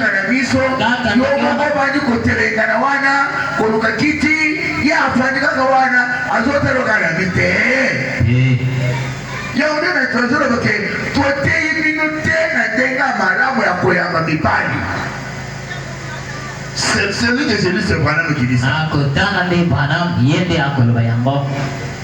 na na biso yo moko bandi kotelengana wana koluka kiti ye afandi kaka wana azotaloka na bite eh. yango nde na tozoloba ke toteyi bino te na ndenge ya malamu ya koyamba mibali celui que celui se branam okilisa akotanga nde branam ye nde akoloba yango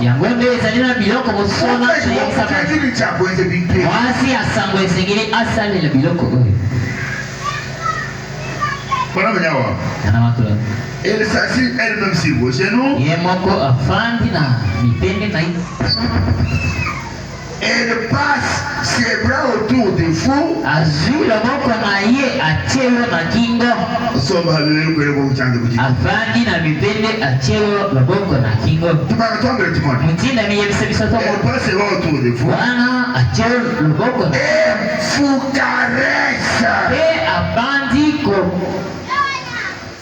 yango nde ezali na biloko mosona mwasi ya sango esengeli asalela biloko oyo Elle s'agit elle-même sur vos genoux. Ye moko afandi na bitenge na ye. Elle passe ses bras autour de vous. Azui loboko na ye atie yo na kingo. Somba lolenge oyo bokutange kuti. Avandi na mibende atie yo loboko na kingo. Tubaka twambele tumoni. Mutinda miyebisa biso toko. Elle passe ses bras autour de vous. Wana atie yo loboko na. Et vous caresse. Et abandi ko.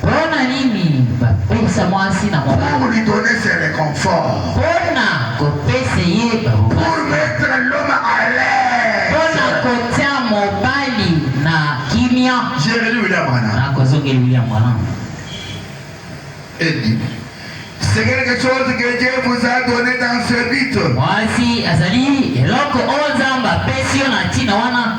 Pona nini ba pesa mwasi na mobali? Pour lui donner ses reconforts. Pona ko pese ye ba bobasi. Pour mettre l'homme à l'aise. Pona ko tia mobali na kimia. J'ai relu William Branham. Na ko zongeli William Branham. Edi. C'est quelque chose que Dieu vous a donné dans ce but. Mwasi azali eloko oyo Nzambe apesi yo na tina wana.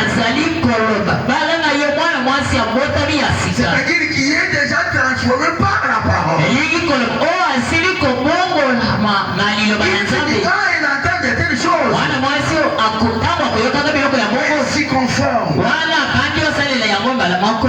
azali koloba bala na yo mwana mwasi abotami ya sika elingi koloba oyo asili kobongolama na liloba ya nzambe mwana mwasi oyo akotango akoyokaka biloko ya bongo wana abandi osalela yango mbala moko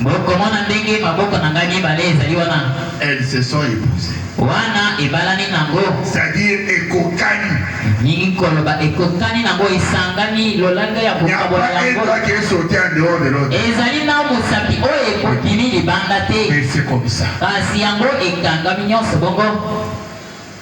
Bokomona ndenge maboko na ngai mibale ezali wana. Elles se sont epousées. Wana ebalani nango. C'est-à-dire ekokani. Mingi koloba ekokani nango esangani lolenge ya kokabola yango. Ezali na mosapi oyo ekokimi libanda te. Kasi yango ekangami nyonso bongo.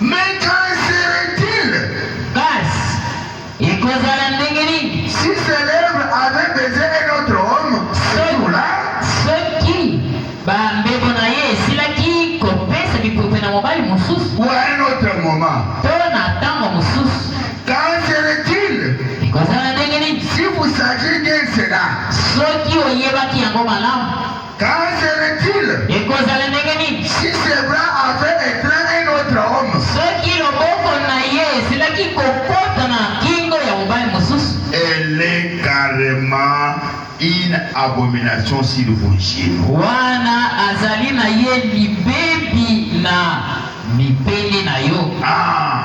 Mais qu'en serait-il? Bas, ekozala ndenge nini? Si ce lèvre avait baise un autre homme, ce jour-là? Soki ba mbebo na ye esilaki kopesa bipupe na mobali mosusu? Ou à un autre moment? To na tango mosusu? Qu'en serait-il? Ekozala ndenge nini? Si vous saviez bien cela? Soki oyebaki yango malamu? Car serait-il? Ekozala ndenge nini? Si ses bras avaient étreint un autre homme. Soki loboko na ye esilaki kokota na kingo ya mobali mosusu. Elle est carrement une abomination sur vos yeux. Wana azali na ye libebi na mibele na yo. Ah!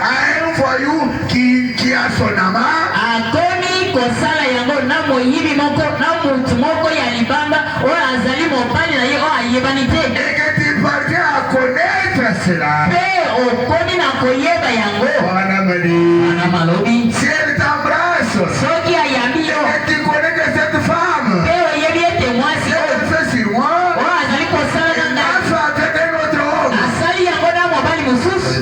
Un voyou qui, qui a son ama. Akomi kosala yango na moyibi moko na mutu moko ya libanda oyo azali mobali na ye oyo ayebani te. Et que tu parviens à connaître cela. Pe okomi na koyeba yango. Wana mali. Wana malobi. Si elle t'embrasse. Soki ayambi yo. Et tu connais que cette femme. Pe oyebi ete mwasi oyo. Elle fait sur moi. Oyo azali kosala na ngai. Elle fait avec un autre homme. Asali yango na mobali mosusu.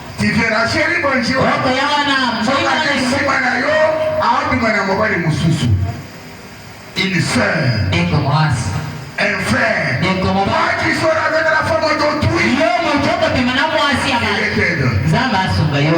Tiverasheri bonji okoya wana soki nsima na yo aotuma na mobali mosusu une sœur ndeko mwasi un frère ndeko mobali kisola kaka na fama d'autrui yo moto okopema na mwasi ya nzambe asunga yo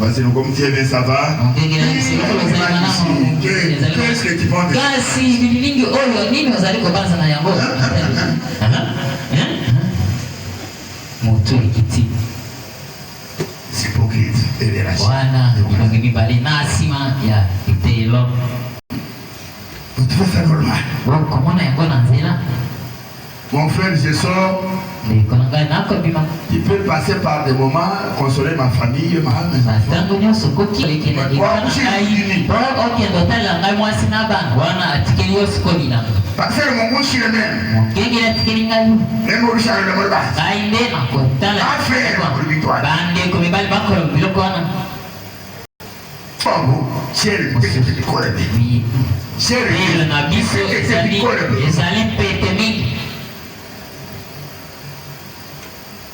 Parce que nous comme Dieu bien ça va. Qu'est-ce que tu penses de Kasi bilingi oyo nini ozali kobanza na yango? Moto ekiti. wana bilongi mibale na nsima ya eteyelo okomona yango na nzela Mon frère, je sors. Tu peux passer par des moments, consoler ma famille, ma femme, mes enfants. Parce que mon mouche est même. mokengeli atikeli ngai ngai nde nakotala bandeko mibali bakolo biloko wana lelo na biso ezali pete mingi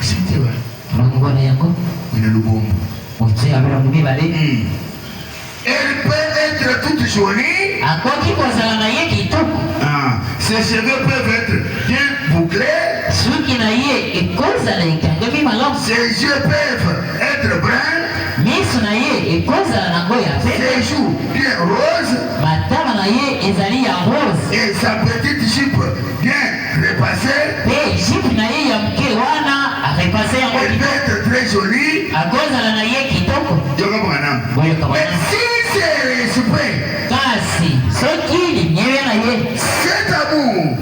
Site ba. Longobana yango. Ina lubombo. Otie ya bela mibale. Elle peut être toute jolie. Akoki kozala na ye kitoko. Ah, ses cheveux peuvent être bien bouclés. Suki na ye ekozala ekangami malamu. Ses yeux peuvent être bruns. Miso na ye ekozala na ngo ya pembe. Ses joues bien roses. Matama na ye ezali ya rose. Et sa petite jupe bien repase pe jupe na ye ya moke wana arepase yango akozala na ye kitoko kasi soki limyele na ye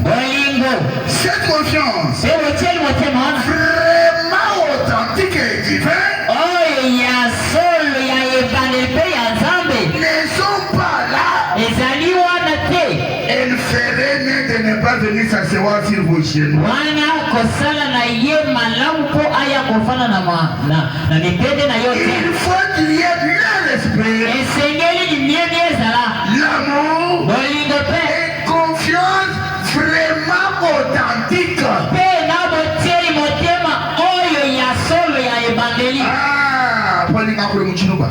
bolingo pe botyeli motema wana oyo ya solo ya ebandeli mpe ya nzambe ezali wana te Elle ferait mieux de ne pas venir s'asseoir sur vos genoux. Wana kosala na ye malamu mpo aya kofana na ma na na mibende na yo te. Il faut qu'il y ait le respect, Esengeli limyebi ezala l'amour bolingo mpe et confiance vraiment authentique. mpe na botieli motema oyo ya solo ya ebandeli. Ah, mpo alinga kule mochiluba.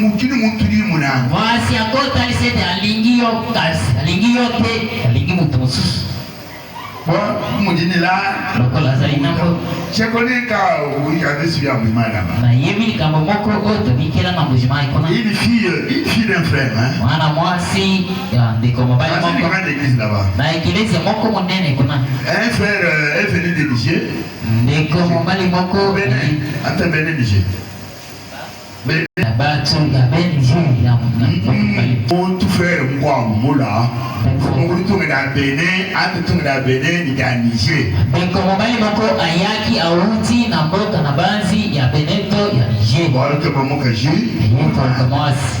mokili motuli monana mwasi yango otalisi ete alingi yo kasi alingi yo te alingi moto mosusu modinila lokola azali nango sekoleka oyabesi ya mimalama nayebi likambo moko oyo tobikela na mojima ekona ili fille ili fille d'un frère hein mwana mwasi ya ndeko mobali moko na eklezia moko monene kuna un frère est venu de Niger ndeko mobali moko ata bene Niger Montu frère Mkwangu Mula mokoli tongela Benin ate tongela Benin lika Niger. Ndeko mobali moko ayaki awuti na mboka na banzi ya Benin to ya Niger. Baloke mamoka ji. Ndeko mwasi.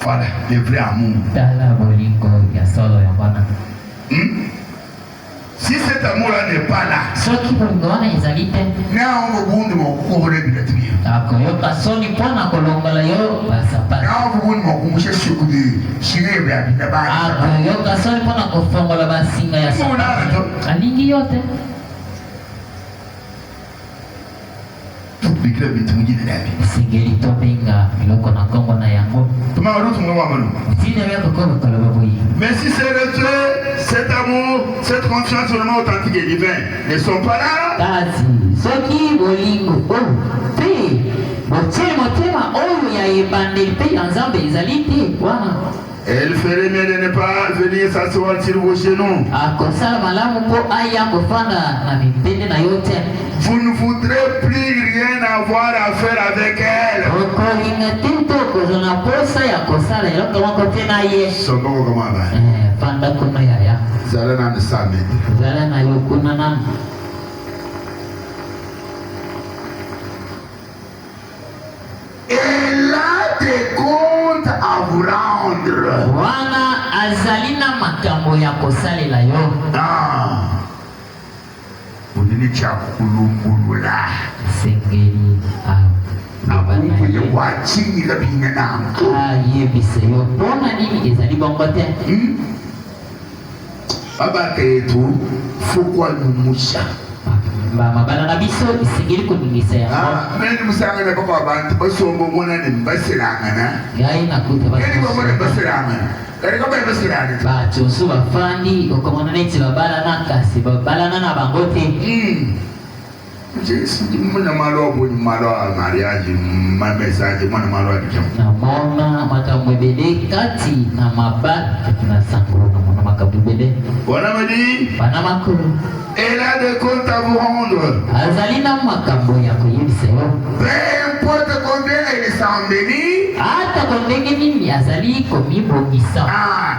Voilà, le vrai amour. Tala bolingo ya solo ya bana. Hmm? Si cet amour-là n'est pas là. Soki bolingo wana ezali te. Nao bobundi mokokobona bilatibia. Akoyoka soni mpo na kolongola yo basapatu. Nao bobundi mokumusha siku de shire bya bina ba. Akoyoka soni mpo na kofongola basinga ya sapatu. Alingi yo te. Esengeli tobenga biloko na nkombo na yango. Ntina ya kokoba koloba boye. Mais si c'est retrait, cet amour, cette confiance vraiment authentique et divin ne sont pas là. Kasi soki bolingo oyo mpe botie motema oyo ya ebandeli mpe ya Nzambe ezali te wana Elle ferait mieux de ne pas venir s'asseoir sur vos genoux. Akosala malamu mpo aya kofanda na bibende na yo te. Vous ne voudrez plus rien avoir à faire avec elle. Okolinga te mpe okozwa na posa ya kosala eloko moko te na ye. Somo kokoma ba. Eh, fanda kuna yaya. Zala na misami. Zala na yo kuna nanu. Elle a des comptes à vous rendre. Wana azali na makambo ya kosalela yo. Ah. Olili cha kulumbulula. Sengeli ah. Ayebisa yo mpo na nini ezali bongo te. Hmm? babaka etu fokwa lumusa mabala na biso esengeli koningisa yango ah, meni mosangana boko abantu basomba omona ne baselangana yaye nakuta beni bamona baselangana bato mosusu bafandi okomona neti babalana kasi babalana na bango te hmm. Jesi ndi mwana malo boni malo a mariage ma message mwana malo a dijam. Na mona makambo ebele kati na maba kati na sango na mona makambo ebele. Bona madi. Bana makolo. Elle a des comptes à vous rendre. Azali na makambo ya koyebisa yo. Peu importe combien elle s'embellit. Ata ko ndenge nini azali komibongisa. Ah.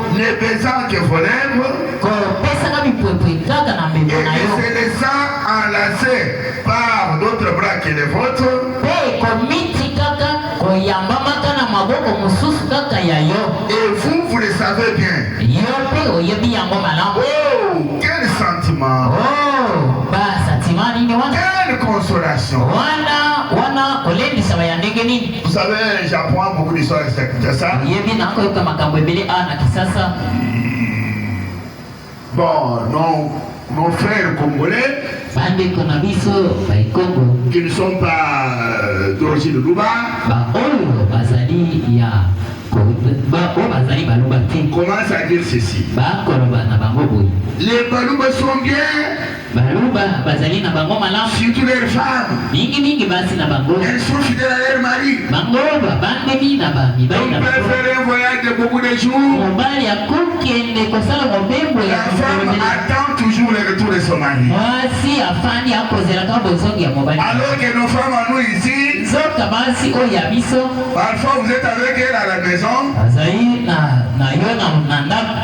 Ne baisant que vos lèvres. Kopesaka bipwepwe kaka na memo na yo. Et se laissant enlacer par d'autres bras que les vôtres. Mpe komitikaka koyambamaka na maboko mosusu kaka ya yo. Et vous, vous le savez bien. Yo mpe oyebi yango malamu. Oh, quel sentiment. Oh, ba sentiment nini wana? Quelle consolation. Wana wana kolendisama ya ndenge nini? Vous savez, j'apprends beaucoup d'histoires ici à Kinshasa. Yebi na koyoka makambo ebele awa na Kinshasa. Bon, non, nos frères congolais. Bandeko na biso bai Congo. Qui ne sont pas euh, d'origine de Luba. Ba oyo bazali ya ba oyo bazali baluba te. Commence à dire ceci. Ba koloba na bango boye. Les baluba sont bien. Baluba bazali na bango malamu. Surtout leurs femmes. Mingi mingi basi na bango. Elles sont fidèles à leur mari. Bango babandemi na ba mibali na bango. Donc peut faire un voyage de beaucoup de jours. Mobali akokende kosala mobembo ya La femme attend toujours le retour de son mari. Mwasi afandi akozela kaka bozongi ya mobali. Alors que nos femmes à nous ici. Nzoka basi oyo ya biso. Parfois vous êtes avec elle à la maison. Azali na na yo na ndako.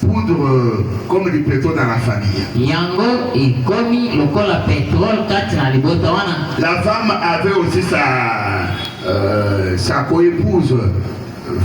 poudre comme du pétrole dans la famille. Yango ekomi lokola pétrole kati na libota wana. La femme avait aussi sa euh, sa coépouse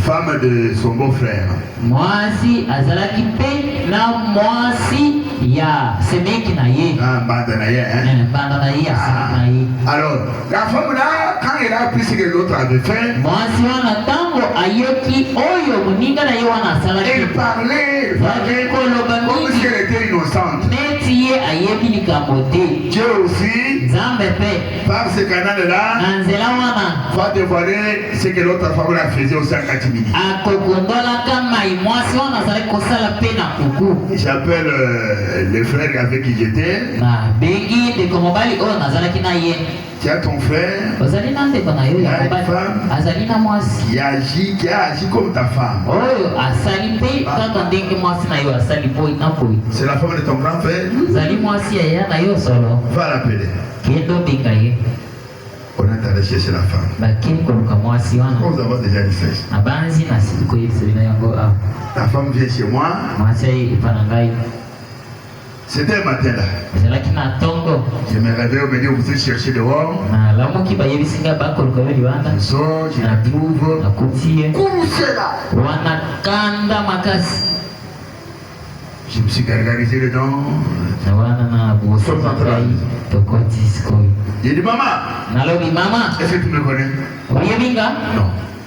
femme de son beau-frère. Mwasi azalaki pe na mwasi ya semeki na ye. Ah, banda na ye hein. Eh, banda na ye ya ah. semeki na ye. Alors La femme là, quand elle a appris ce que l'autre avait fait, mwasi wana ntango ayoki oyo moninga na ye wana elle asalaki parlait bazali koloba comme si mingi elle était innocente. neti ye ayebi likambo te Dieu aussi, nzambe mpe par ce canal-là, na nzela wana va dévoiler ce que l'autre femme là faisait aussi en catimini. akokundolaka mai mwasi wana azalaki kosala mpe na kuku J'appelle euh, les frères avec qui j'étais. Nabengi ndeko mobali oyo nazalaki na ye. Tu as ton frère. Ozali na ndeko na yo ya mobali. Azali na mwasi. Qui agit, qui a agi comme ta femme. Oyo asali mpe ah. kaka ndenge mwasi na yo asali boye na boye. C'est la femme de ton grand frère. Zali mwasi ya ya na yo solo. Va l'appeler. Kendo benga ye. On est allé chercher la femme. Bakini koluka mwasi wana. Comme nous avons déjà dit ça. Abanzi na sikoyebisa bino yango awa. Ah. La femme vient chez moi. Mwasi aye epa na ngai. C'était un matin là. Ezalaki na ntongo. Je me réveille, on me dit on vous chercher dehors. Nalamuki bayebisi ngai bakoluka yo libanda. Je sors, je la trouve. Nakuti ye. Kurusela. Wana kanda makasi. Je me suis gargarisé les dents. Na wana na bosa ngai tokoti sikoyo. Il dit maman. Nalobi maman. Est-ce que tu me connais? Oyebi nga? Non.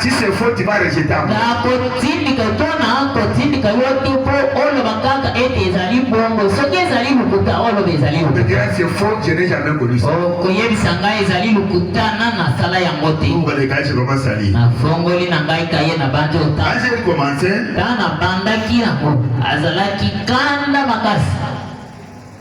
Si c'est faux, tu vas rejeter encore. Nakotindika to nakotindika yo te mpo oloba kaka ete ezali bongo. Soki ezali lokuta, oloba ezali Tu lokuta. diras c'est faux, je n'ai jamais connu ça. Okoyebisa ngai ezali lokuta na nasala yango te. Ou les gars, je commence à lire. Nafongoli na ngai kaye na bandi Quand otanga. j'ai commencé, Ntango nabandaki yango, azalaki kanda makasi.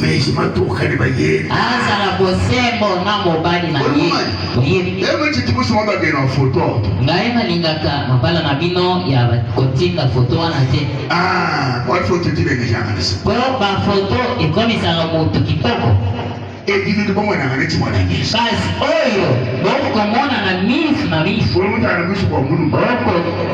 Meji matuka ni baye. Aza la bosembo na mobali na ye. Oyebi. Ebe titi busu mwa bage na foto. Ngaye na lingaka mabala na bino ya kotinda foto wana te. Ah, kwa foto tine ni janga nisa. Po ba foto ekomisa na moto kitoko. Edini ni bongo na ngane chimwa na ngisi. Basi oyo, bongo komona na misu na misu. Bongo mutana misu kwa munu. Bongo.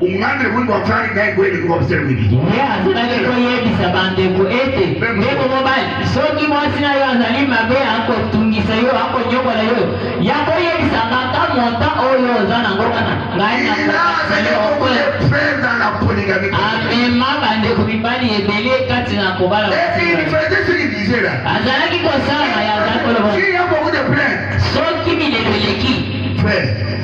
ungambe mundu wafari naye kweli kuba kusemwili ye azalaki koyebisa bandeko ete ndeko mobali soki mwasi na yo azali mabe akotungisa yo akonyokola yo ya koyebisa ngaka monta oyo oza nango wana ngai amema bandeko mibali ebele kati na kobala azalaki kosala ya azalaki koloba soki milelo eleki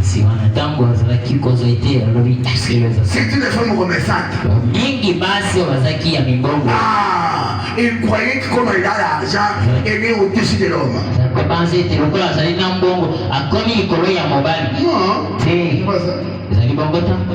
nsima na ntango azalaki kozwa ete alobi mingi basi oyo bazalaki ya mibongo babanzi ete lokola azali na mbongo akomi likolo ya mobali te ezali bongo ntango